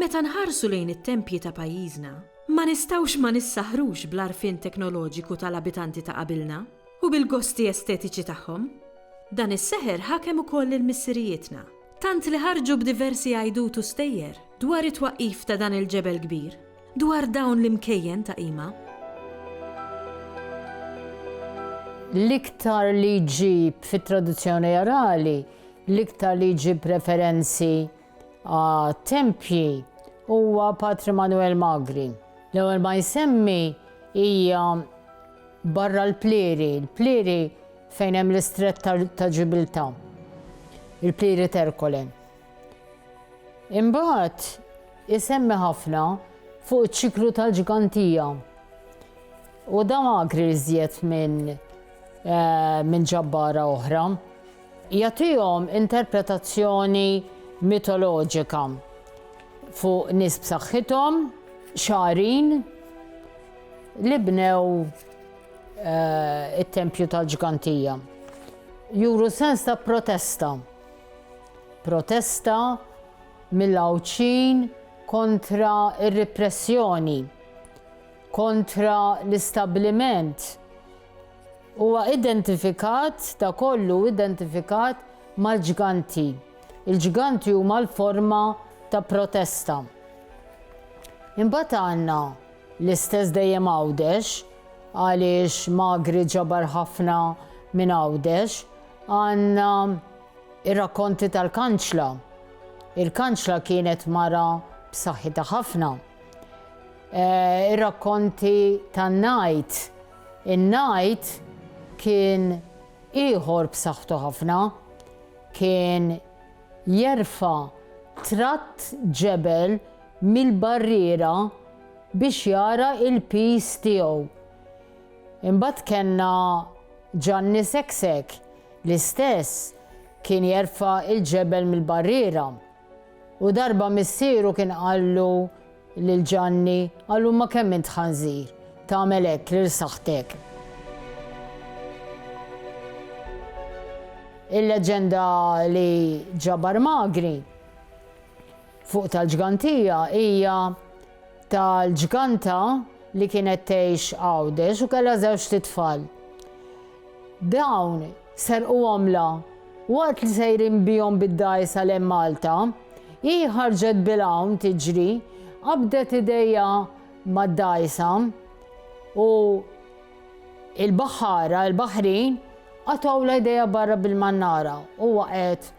Meta nħarsu lejn it-tempji ta' pajjiżna, ma nistgħux ma nissaħrux bl-għarfien teknoloġiku tal-abitanti ta' qabilna u bil-gosti estetiċi tagħhom. Dan is-seħer ħakem ukoll lil missirijietna, Tant li ħarġu b'diversi għajdut u stejjer dwar it-twaqqif ta' dan il-ġebel kbir, dwar dawn l-imkejjen ta' qima. L-iktar li jġib fit-tradizzjoni orali, l-iktar li jġib referenzi għat-tempji huwa Patri Manuel Magri. L-ewwel ma jsemmi hija barra l-Plieri. Il-Plieri Fejn hemm l-Istrett ta' Ġibiltà, il-Plieri Terkole. Imbagħad isemmi ħafna fuq iċ-ċiklu tal-ġgantija. U da magri iżjed minn eh, min ġabbara oħra. Jagħtihom interpretazzjoni mitoloġika fuq nies b'saħħithom, xarin, li bnew eh, it-tempju tal-ġgantija. Juru sens ta' protesta. Protesta mill-għawċin kontra ir-repressjoni, kontra l-istabliment. Huwa identifikat, ta' kollu identifikat mal-ġganti. Il-ġganti huma l-forma ta' protesta. Imbagħad għandna L-istess dejjem Għawdex, għaliex Magri ġabar ħafna minn Għawdex, għandna r-rakkonti tal-Kanċla. Il-Kanċla kienet mara b'saħħitha ħafna. Ir-rakkonti tan-Ngħid, in-Ngħid kien ieħor b'saħħtu ħafna, kien jerfa' tratt ġebel mill-barriera biex jara il-piż tiegħu. Imbagħad kellna Ġanni Seksek l-istess kien jerfa' l-ġebel mill-barriera u darba missieru kien qallu Lil Ġanni, Allum ma kemm int ħanżir, tagħmel hekk lil saħħtek. Il-leġġenda li ġabar Magri fuq tal-ġgantija hija tal-ġganta li kienet tgħix Għawdex u kellha żewġt itfal. Dawn serqu għomla waqt li sejrin bihom bid-dgħajsa lejn Malta. Hi ħarġet bil-għawm tiġri, qabdet idejha mad-dgħajsa u l-baħħara, il-baħrin, qatgħulha idejha barra bil-mannara u waqgħet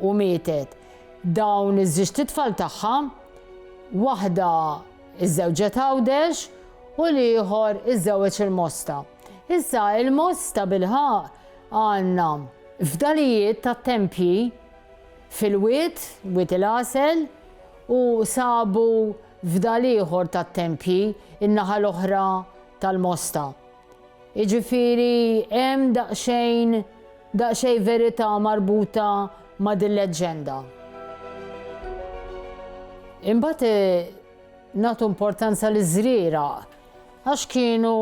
u mietet. Dawn iż-żiġt itfal tagħha, waħda żżewġet Għawdex u l-ieħor iżżewweġ il-Mosta. Issa il-Mosta bilħaqq għandna fdalijiet tat-tempji fil-wied, Wied il-Għasel, u sabu fdal ieħor tat-tempji n-naħa l-oħra tal-Mosta. Jiġifieri hemm daqsxejn daqsxejn verità marbuta ma' dil-leġġenda. Imbagħad nagħtu importanza liż-żrieraq għax kienu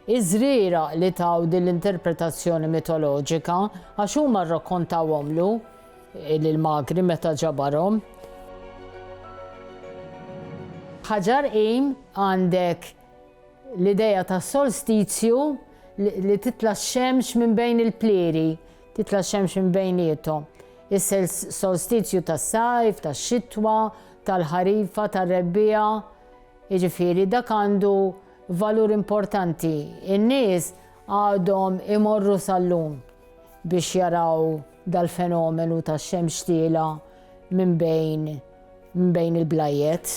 Iż-żrieraq li taw din l-interpretazzjoni mitoloġika, għax huma rrakkontawhomlu lill-magri meta ġabarhom. Ħaġar Qim għandek l-idea tas-solstizju li titla' x-xemx minn bejn il-plieri, titla' x-xemx minn bejniethom. Is-solstizju tas-sajf, tax-xitwa, tal-ħarifa, tar-rebbiegħa, jiġifieri dak għandu Valur importanti, in-nies għadhom imorru sal-lum biex jaraw dal-fenomenu tax-xemx tiela' minn bejn minn bejn il-blajjet.